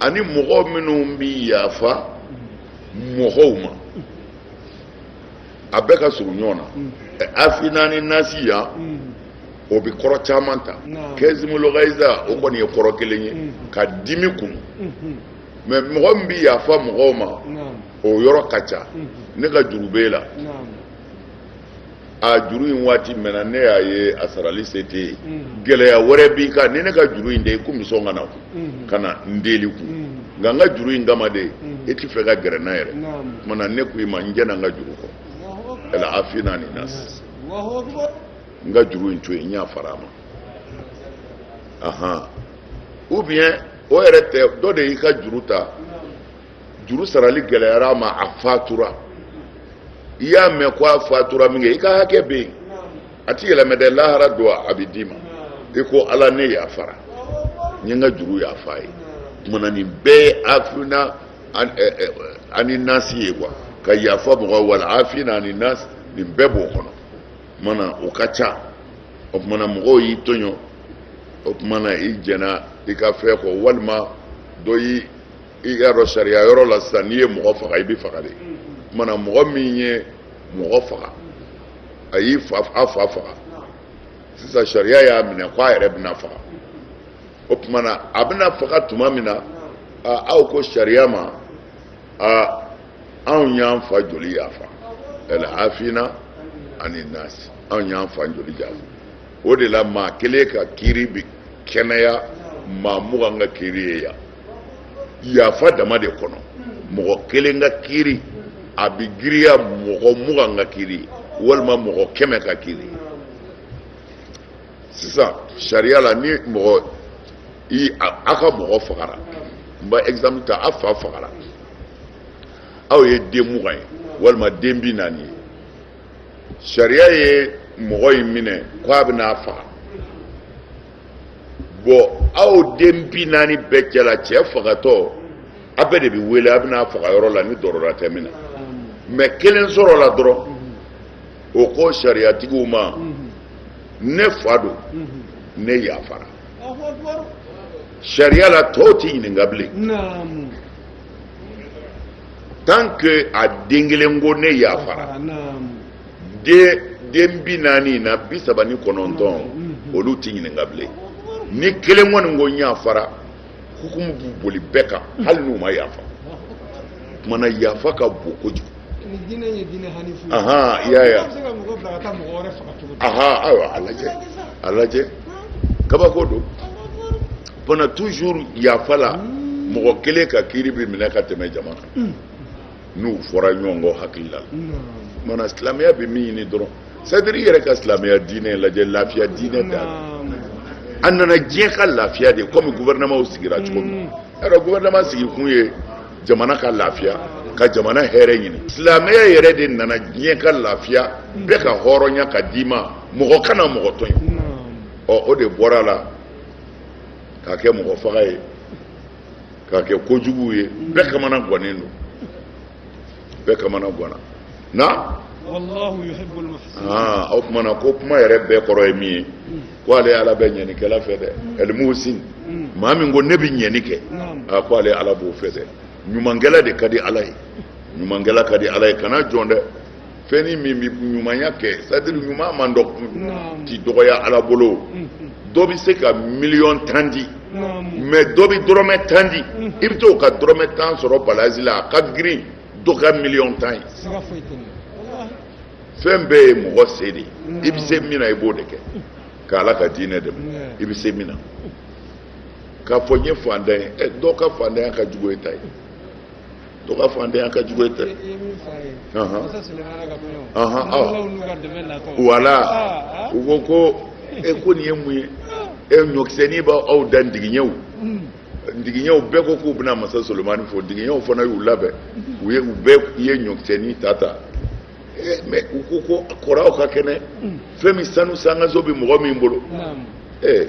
ani mɔgɔ minnu bɛ yafa mɔgɔw ma a bɛɛ ka surun ɲɔgɔn na mm. afina ani nasi yan mm. o bɛ kɔrɔ caman ta kazimul ghayza o kɔni ye kɔrɔ kelen ye mm. ka dimi kunu mm-hmm. mais mɔgɔ min bɛ yafa mɔgɔw ma o yɔrɔ ka ca mm-hmm. ne ka juru b'e la a juru in waati mɛnna ne y'a ye a sarali se tɛ yen mm. gɛlɛya wɛrɛ b'i kan ni ne ka juru in tɛ i kun bɛ sɔn ka na mm. ka na n deli kun mm. nka n ka juru in kama de e ti fɛ ka gɛrɛ n na yɛrɛ tuma na ne ko i ma n jɛna n ka juru kɔ wala afina ani nasi n ka juru in to yen n yafara a ma ahan ou bien o yɛrɛ tɛ dɔ de y'i ka juru ta. juru sarali gɛlɛyara a ma a fatura i y'a mɛn ko a fatura min kɛ i ka hakɛ bɛ yen a ti yɛlɛmɛ dɛ lahara don a bɛ d'i ma i ko ala ne yafara n ye n ka juru yafa a ye tuma na nin bɛɛ ye afina ani nasi ye quoi ka yafa mɔgɔ wala afina ani nasi nin bɛɛ b'o kɔnɔ o tuma na o ka ca o tuma na mɔgɔw y'i tɔɲɔ o tuma na i jɛna i ka fɛn kɔ walima dɔ y'i i y'a dɔn sariya yɔrɔ la sisan n'i ye mɔgɔ faga i bɛ faga de tuma na mɔgɔ min ye mɔgɔ faga a y'i fa a fa faga sisan sariya y'a minɛ k'a yɛrɛ bɛna faga o tuma na a bɛna faga tuma min na aw ko sariya ma anw y'an fa joli yafa al afina ani nasi anw y'an fa joli yafa o de la maa kelen ka kiiri bi kɛnɛya maa mugan ka kiiri ye yan yafa dama de kɔnɔ mɔgɔ kelen ka kiiri a bɛ giriya mɔgɔ mugan ka kiiri walima mɔgɔ kɛmɛ ka kiiri sisan sariya la ni mɔgɔ i a ka mɔgɔ fagara n b'a exemple ta a fa fagara aw ye den mugan ye walima den bi naani ye sariya ye mɔgɔ in minɛ k'a bɛna a faga bon aw den bi naani bɛɛ cɛla cɛ fagatɔ a bɛɛ de bɛ wele a bɛna faga yɔrɔ la ni dɔrɔra tɛ min na maa kelen sɔrɔla dɔrɔn o ko sariyatigiw ma ne fa don ne yafara sariya la tɔw tɛ ɲininka bilen tant que a den kelen ko ne yafara den bi naani na bi saba ni kɔnɔntɔn mm-hmm. olu tɛ ɲininka bilen ni kelen kɔni ko n yafara hukumu bɛ boli bɛɛ kan mm-hmm. hali n'u ma yafa tuma na yafa ka bon kojugu aha i y'a ye aha ayiwa a lajɛ a lajɛ kabako dɔ fana toujours yafa la mm. mɔgɔ kelen ka kiiri bɛ minɛ ka tɛmɛ jama kan mm. n'u fɔra ɲɔgɔn kɔ hakili la tuma na silamɛya bɛ min ɲini dɔrɔn c'est-à-dire i yɛrɛ ka silamɛya diinɛ lajɛ lafiya diinɛ don a nana diɲɛ ka lafiya de comme gouvernement sigira cogo min yɔrɔ mm. gouvernement sigi kun ye jamana ka lafiya ka jamana hɛrɛ ɲini silamɛya yɛrɛ de nana diɲɛ ka lafiya mm. bɛɛ ka hɔrɔnya ka d'i ma mɔgɔ kana mɔgɔ tɔɲɔ mm. ɔ o de bɔra a la k'a kɛ mɔgɔ faga ye k'a kɛ kojuguw ye bɛɛ kamana gannen don bɛɛ kamana ganna na o tuma na ko kuma yɛrɛ bɛɛ kɔrɔ ye min ye ko ale ala bɛ ɲɛnikɛla fɛ dɛ al muhsin maa min ko ne bɛ ɲɛni kɛ a ko ale ala b'o fɛ dɛ ɲumankɛla de ka di ala ye ɲumankɛla ka di ala ye kana jɔn dɛ fɛnni min bɛ ɲumanya kɛ c'est-à-dire ɲuman man dɔ ti dɔgɔya ala bolo dɔ bɛ se ka miliyɔn tan di mais dɔ bɛ dɔrɔmɛ tan di i bɛ t'o ka dɔrɔmɛ tan sɔrɔ balansi la a ka girin dɔ ka miliyɔn tan ye fɛn bɛɛ ye mɔgɔ se de ye i bɛ se min na i b'o de kɛ ka ala ka diinɛ dɛmɛ i bɛ se min na k'a fɔ n ye fantan ye dɔw ka fantanya ka jugu e ta ye dɔw ka fantanya ka jugu dɛ wala u ko ko e ko nin ye mun ye e ɲɔkisɛnin b'aw da ndigiɲɛw ndigiɲɛw bɛɛ ko k'u bɛna masa solomani fo ndigiɲɛw fana y'u labɛn u ye u bɛɛ ye ɲɔkisɛnin ta ta mais u ko ko kɔrɔw ka kɛnɛ fɛn min sanu sankanso bɛ mɔgɔ min bolo ee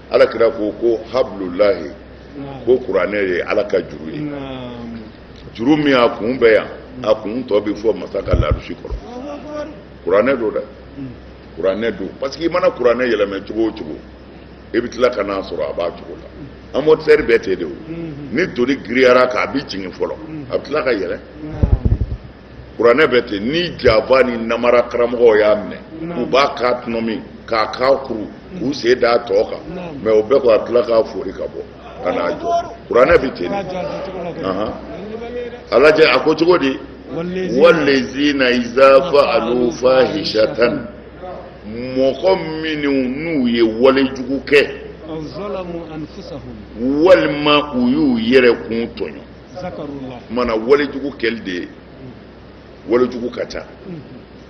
ala kira ko ko hablullahi ko kuranɛ ye ala ka juru ye juru min a kun bɛ yan a kun tɔ bɛ fo masa ka larusi kɔrɔ kuranɛ don dɛ kuranɛ don parce que i mana kuranɛ yɛlɛmɛ cogo o cogo i bɛ tila ka n'a sɔrɔ a b'a cogo la amortisseur bɛ ten de o ni doni girinyara k'a bɛ jigin fɔlɔ a bɛ tila ka yɛlɛ kuranɛ bɛ ten ni janfa ni namara karamɔgɔw y'a minɛ u b'a k'a tɔnɔmi k'a k'a kuru k'u sen d'a tɔ kan mais o bɛɛ k'a tila k'a fori ka bɔ ka n'a jɔ kuranɛ bɛ ten a lajɛ a ko cogo di wallazina iza fa'alu fahishatan mɔgɔ minnu n'u ye wale jugu kɛ walima u y'u yɛrɛ kun tɔɲɔ maana walejugu kɛli de ye walejugu ka ca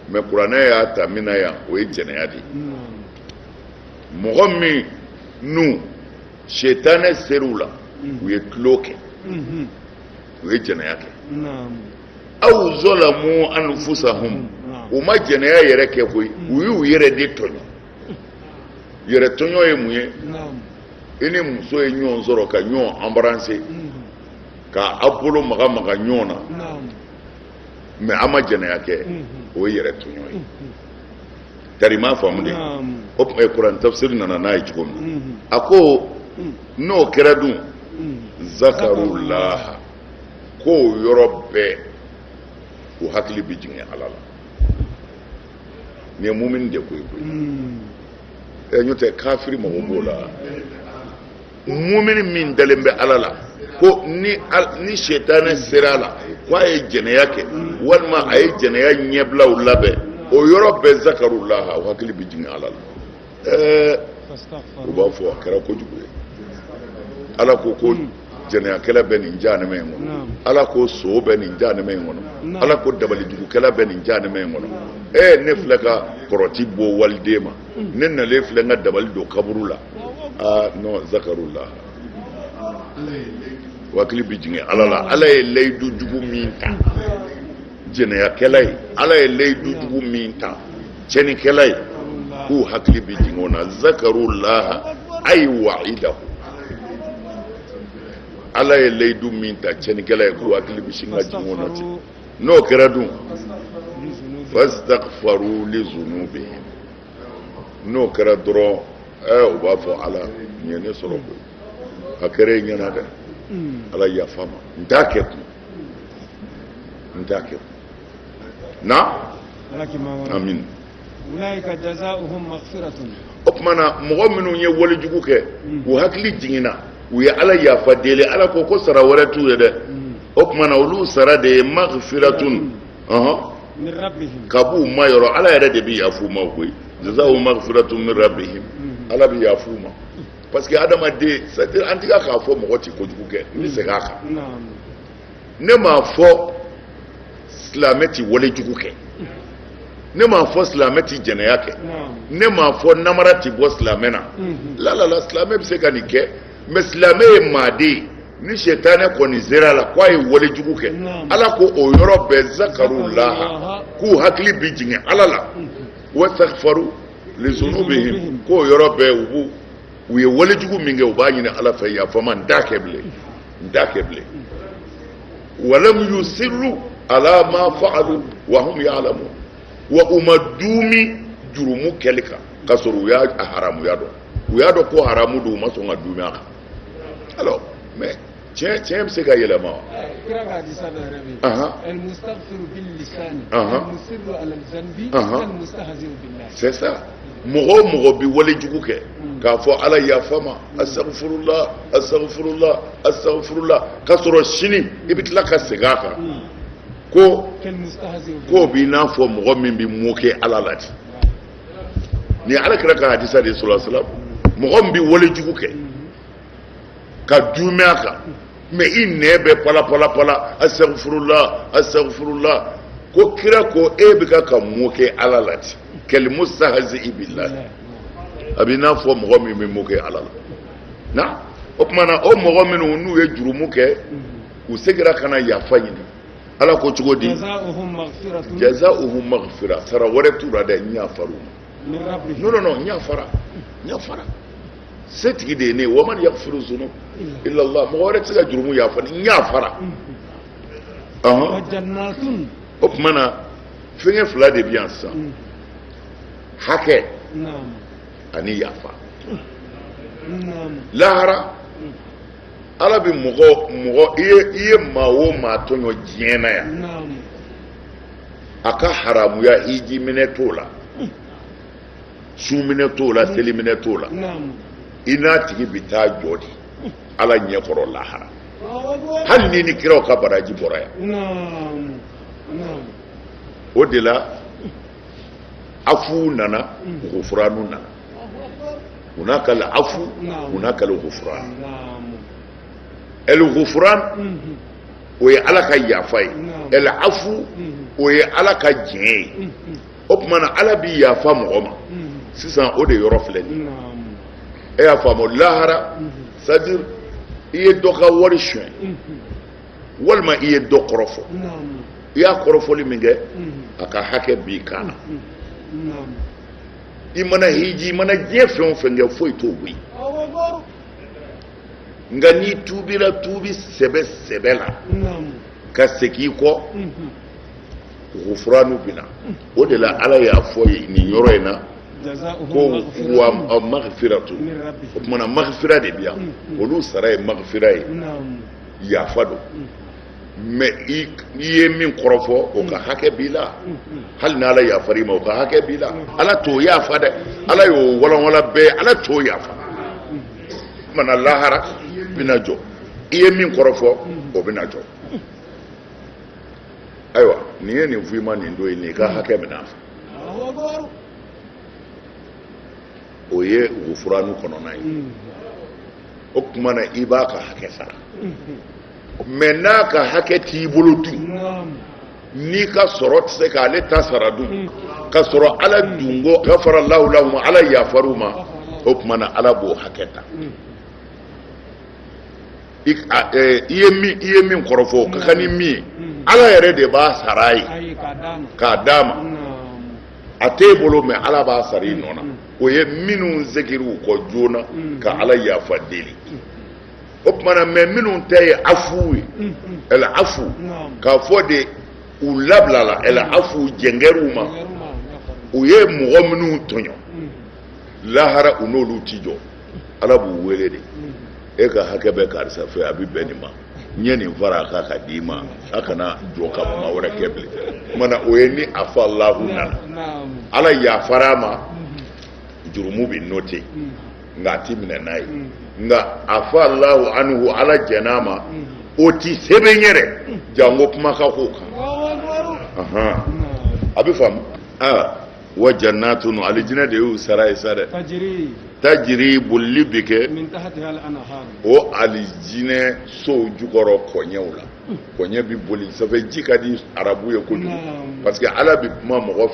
mais kuranɛ y'a ta min na yan o ye jɛnɛya de ye mɔgɔ minnu setanɛ ser'u la u ye tulon kɛ u ye jɛnɛya kɛ aw zɔlamu anfusahum u ma jɛnɛya yɛrɛ kɛ koyi u y'u yɛrɛ de tɔɲɔ yɛrɛ tɔɲɔ ye mun ye i ni muso ye ɲɔgɔn sɔrɔ ka ɲɔgɔn embrasser ka a bolo maga maga ɲɔgɔn na mais a ma jɛnɛya kɛ o ye yɛrɛ tɔɲɔ ye tari m'a faamu de o tuma kuran tafsiri nana n'a ye cogo min a ko n'o kɛra dun zakarullaha k'o yɔrɔ bɛɛ o hakili bɛ jigin ala la nin ye mumini de ko ye koyi ɛ n'o tɛ kafiri mago b'o la mumini min dalen bɛ ala la ko ni ni sɛtanɛ sera a la ko a ye jɛnɛya kɛ walima a ye jɛnɛya ɲɛbilaw labɛn o yɔrɔ bɛɛ zakarullaha o hakili bɛ jigin ala la ɛɛ u b'a fɔ a kɛra kojugu ye ala ko ko hmm. jɛnɛyakɛla bɛ nin jahanama in kɔnɔ ala ko son bɛ nin jahanama in kɔnɔ ala ko dabalijugukɛla bɛ nin jahanama in kɔnɔ ee ne filɛ ka kɔrɔti bɔ waliden ma hmm. ne nalen filɛ n ka dabali don kaburu la aa non zakarullah u hakili bɛ jigin ala la ala ye layidu jugu min ta jɛnɛyakɛla ye ala ye layidu jugu min ta cɛnnikɛla ye k'u hakili bɛ jigin o na zakaru laha ayi wa'idahu ala ye layidu min ta cɛnnikɛla ye k'u hakili bɛ sin ka jigin o na ten n'o kɛra dun fastaghfaru li zunubihim n'o kɛra dɔrɔn ɛɛ u b'a fɔ ala nin ye ne sɔrɔ koyi a kɛra e ɲɛna dɛ ala yafa n ma n t'a kɛ kun n t'a kɛ kun naam ulaika jazauhum maghfiratun o tuma na mɔgɔ minnu ye walejugu kɛ hmm. u hakili jiginna u ye ala yafa deli ala ko ko sara wɛrɛ t'u ye dɛ hmm. o tuma na olu sara de ye maghfiratun hmm. min rabbihim ka b'u ma yɔrɔ ala yɛrɛ de bɛ yaf'u ma koyi jazauhum maghfiratun min rabbihim ala bɛ yaf'u ma parce que adamaden an tɛ ka k'a fɔ mɔgɔ tɛ kojugu kɛ n bɛ segin a kan ne m'a fɔ silamɛ tɛ wale jugu kɛ ne m'a fɔ silamɛ tɛ jɛnɛya kɛ ne m'a fɔ namara tɛ bɔ silamɛ na lalala silamɛ bɛ se ka nin kɛ mais silamɛ ye maaden ye ni sɛtanɛ kɔni sera a la k'a ye wale jugu kɛ ala ko o yɔrɔ bɛɛ zakaru laha k'u hakili bɛ jigin ala la wastaghfaru li zunubihim k'o yɔrɔ bɛɛ u b'u u ye walejugu min kɛ u b'a ɲini ala fɛ yafa n ma n t'a kɛ bilen n t'a kɛ bilen wa lam yusirru ala ma fa'alu wa hum ya'lamun wa u ma duumi jurumu kɛli kan k'a sɔrɔ u y'a haramuya dɔn u y'a dɔn ko haramu don u ma sɔn ka duumi a kan alors mais tiɲɛ tiɲɛ bɛ se ka yɛlɛma wa. kira ka hadisa dɔ yɛrɛ bɛ yen. ɛl mustaghfiru bil lisani. ɛl musirru ala zanbi. ɛl mustahzi'u billahi. c'est ça mɔgɔ o mɔgɔ bɛ wale jugu kɛ. Hmm. k'a fɔ ala yafa n ma hmm. astaghfirullah astaghfirullah astaghfirullah k'a sɔrɔ sini i bɛ tila ka segin a kan. Hmm. ko k'o b'i n'a fɔ mɔgɔ min bɛ moquer ala la ten nin ye ala kira ka hadisa de ye sallallahu alaihi wasallam mɔgɔ min bɛ wale jugu kɛ. ka duumi a kan mais i nɛn bɛ palapalapla astaghfirullah astaghfirullah ko kira ko e bɛ ka ka moquer ala la ten kal mustahzi'i billah a b'i n'a fɔ mɔgɔ min bɛ moquer ala la na o tuma na o mɔgɔ minnu n'u ye jurumu kɛ u seginna ka na yafa ɲini ala ko cogo di jazauhum maghfira sara wɛrɛ t'u ra dɛ n yafar'u ma nɔn nɔn n yafara n yafara se tigi de ye ne wa man yagfiru zunub ilala mɔgɔ wɛrɛ tɛ se ka jurumu yafa ni n yafara o tuma na fɛnkɛ fila de bɛ yan sisan mm. hakɛ ani yafa lahara mm. ala bɛ mɔgɔ mɔgɔ i ye maa o maa tɔɲɔ diɲɛ na yan a ka haramuya hiji minɛ t'o la sun minɛ t'o la seli minɛ t'o la i n'a tigi bɛ taa jɔ de ala ɲɛ kɔrɔ lahara hali ni ni kiraw ka baraji bɔra yan o de la afu nana gufuranu nana hunakal afu hunakal gufuranu ɛlgufuranu o ye ala ka yafa ye ɛlafu o ye ala ka diɲɛ ye o tuma na ala bɛ yafa mɔgɔ ma sisan o de yɔrɔ filɛ nin ye e y'a faamu lahara sadiri i ye dɔ ka wari suɲɛ walima i ye dɔ kɔrɔfɔ i y'a kɔrɔfɔli min kɛ a ka hakɛ b'i kan na i mana hiji i mana diɲɛ fɛn o fɛn kɛ foyi t'o bɔ yen nka n'i tuubira tuubi sɛbɛ sɛbɛ la ka segin i kɔ gufuranu bi na o de la ala y'a fɔ ye nin yɔrɔ in na ko wa magfiratu o tuma na magfira de bi yan olu sara ye magfira ye yafa don mɛ i ye min kɔrɔfɔ o ka hakɛ b'i la hali ni ala yafar'i ma o ka hakɛ b'i la ala t'o yafa dɛ ala y'o walanwala bɛɛ ala t'o yafa mana lahara bɛna jɔ i ye min kɔrɔfɔ o bɛna jɔ ayiwa nin ye nin f'i ma nin don ye nin ka hakɛ minɛ a fɛ o ye gufuranu kɔnɔna ye o tuma na i b'a ka hakɛ sara mɛ n'a ka hakɛ t'i bolo dun n'i ka sɔrɔ tɛ se k'ale ta sara dun mm. ka sɔrɔ ala dun ko gafara lahu lahum ala yafar'u ma o tuma na ala b'o hakɛ ta mm. i e, ye min kɔrɔfɔ ka kan ni min ye mm. ala yɛrɛ de b'a sara a ye k'a d'a ma a t'e bolo mɛ ala b'a sara i nɔ na o ye minnu segir'u kɔ joona ka ala yafa deli o tumana maa minnu ta ye afu ye ɛlɛ afu k'a fɔ de u labilala ɛlɛ afu jɛn kɛr'u ma u ye mɔgɔ minnu tɔɲɔ lahara u n'olu ti jɔ ala b'u wele de e ka hakɛ bɛ karisa fɛ a bɛ bɛn nin ma n ye nin fara a kan ka d'i ma a kana jɔ ka kuma wɛrɛ kɛ bilen o tumana o ye ni afa alahu nana ala yafara a ma jurumu bɛ note nka a ti minɛ n'a ye nka afa alahu anhu ala jɛn'a ma o ti sɛbɛn yɛrɛ janko kuma ka k'o kan a bɛ faamu wa jannatun alijinɛ de y'u sara ye sa dɛ tajiri bolili bɛ kɛ o alijinɛ sow jukɔrɔ kɔɲɛw la kɔɲɛ bɛ boli ça fait ji ka di arabu ye kojugu parce que ala bɛ kuma mɔgɔ fɛ